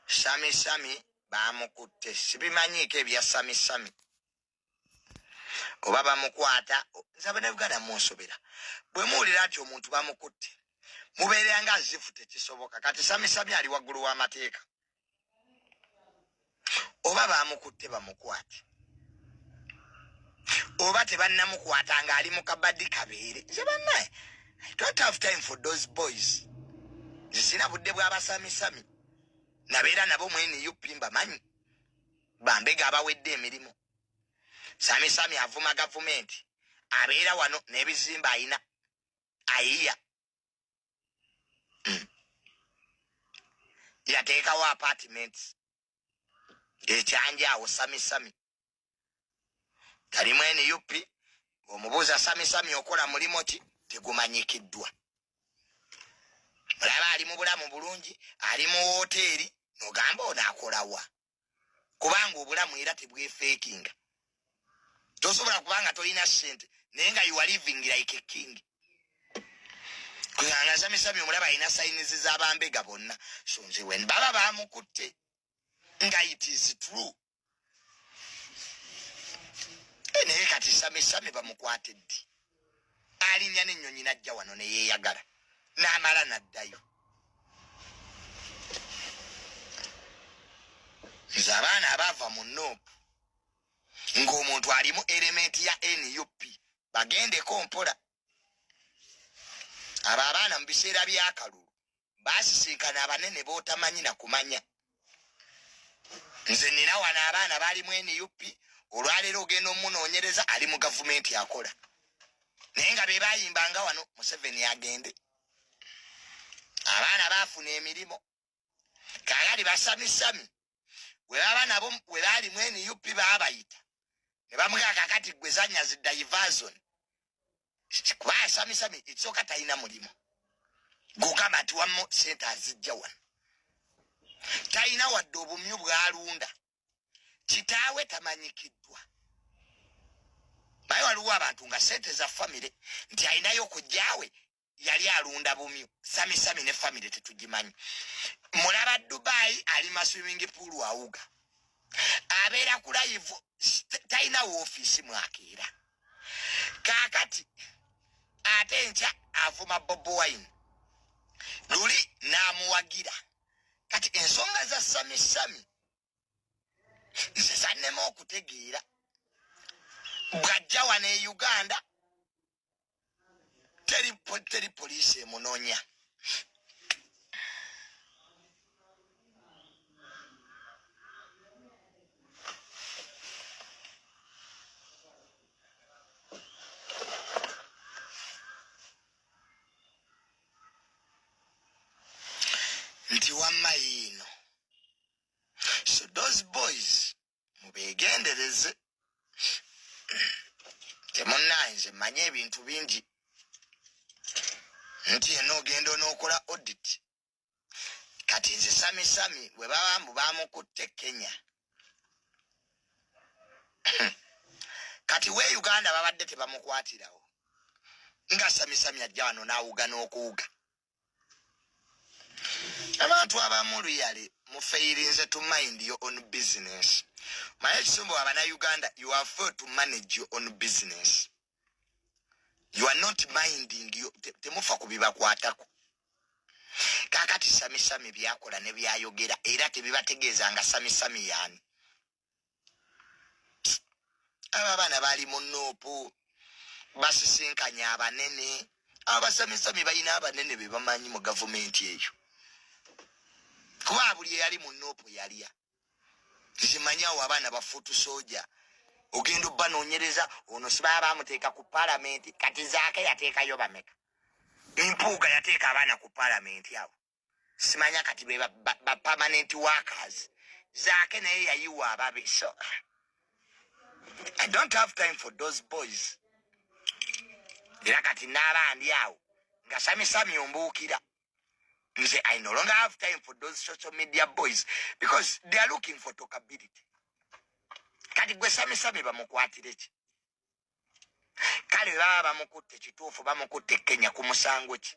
sami sami bamukutte sibimanyiiko ebya sami sami oba bamukwata nze abanayuganda munsobera bwe muwulira nti omuntu bamukutte mubeere nga zifu tekisoboka kati sami sami ali waggulu w'amateeka oba bamukutte bamukwate oba tebannamukwata ng'ali mu kabadi kabeere nze bannaye i don't have time for those boys nze sirina budde bw'abasamisami nabeera nabo mwene up mbamanyi bambega abawedde emirimu samisami avuma gavumenti abeera wano n'ebizimba ayina ayiya yateekawo apartments ekyanja awo samisami talimu nup omubuuza samisami okola mulimu ki tegumanyikiddwa mulaba ali mu bulamu bulungi ali mu wooteeri nogamba ono akolawa kubanga obulamu era tebwefeekinga tosobola kubanga tolina sente naye nga you are living like a king kweangasamyesami omulaba alina sayinizi zabambega bonna sonze wen baba bamukutte nga it is true eh, naye kati samesame bamukwate ddi alinya nenyonyi najja wano neyeyagala namala naddayo nze abaana abaava mu noopu ng'omuntu alimu elementi ya nup bagendeko mpola abo abaana mu biseera byakalulu basisinkana abanene botamanyi na kumanya nze nina wano abaana bali mu nup olwaleero ogenda omunoonyereza ali mu gavumenti akola naye nga be bayimbanga wano museveni agende abaana baafuna emirimu kaakati basamisami gwe baba nabo we baali mu nup baabayita ne bamugaa kakati gwe zanya zi diversion kuba asamisami ekisooka talina mulimu gugamba nti wammu sente azijja wano talina wadde obumyu bwalunda kitaawe tamanyikiddwa naye waliwo abantu nga sente za famire nti alinayo okujjawe yali alunda bumyu samisami ne famire tetugimanyi mulaba dubayi ali maswimming pool awuga abeera ku layivu talina woofiisi mwakeera kaakati ate nkya avuma bobo wine luli n'amuwagira kati ensonga za samisami nze zannema okutegeera bwajja wano e uganda teri teri poliisi emunonya nti wamma yiino so those boys mubegendereze temunaye nze manye ebintu bingi nti ena ogenda onokola audit kati nze samisami webaba mbu bamukutte kenya kati we uganda babadde tebamukwatirawo nga samisami ajja wano nawuga n'okuwuga abantu abamu luyale mufeyirinze to mind your own business maye ekisumbu abana uganda you are fail to manage your own business you are not minding temufa te kubibakwatako kakati samisami byakola nebyayogera era tebibategeeza nga samisami yani abo abaana baali mu nuupu basisinkanye abanene abasamisami balina abanene be bamanyi mu gavumenti eyo kuba buli eyali mu nuupu yalya zimanyawo abaana bafuutu soja ogenda obanonyereza ono sibaa bamuteeka ku palamenti kati zaake yateekayo bameka empuuga yateeka abaana ku palamenti abo simanya kati be ba permanent workers zaake naye yayiwa ababe so i don't have time for those boys era kati naabandi awo nga samisami ombuukira nze i no longer have time for those social media boys because they are looking for tokability kati gwe samisami bamukwatire ki kale baba bamukutte kituufu bamukutte kenya ku musango ki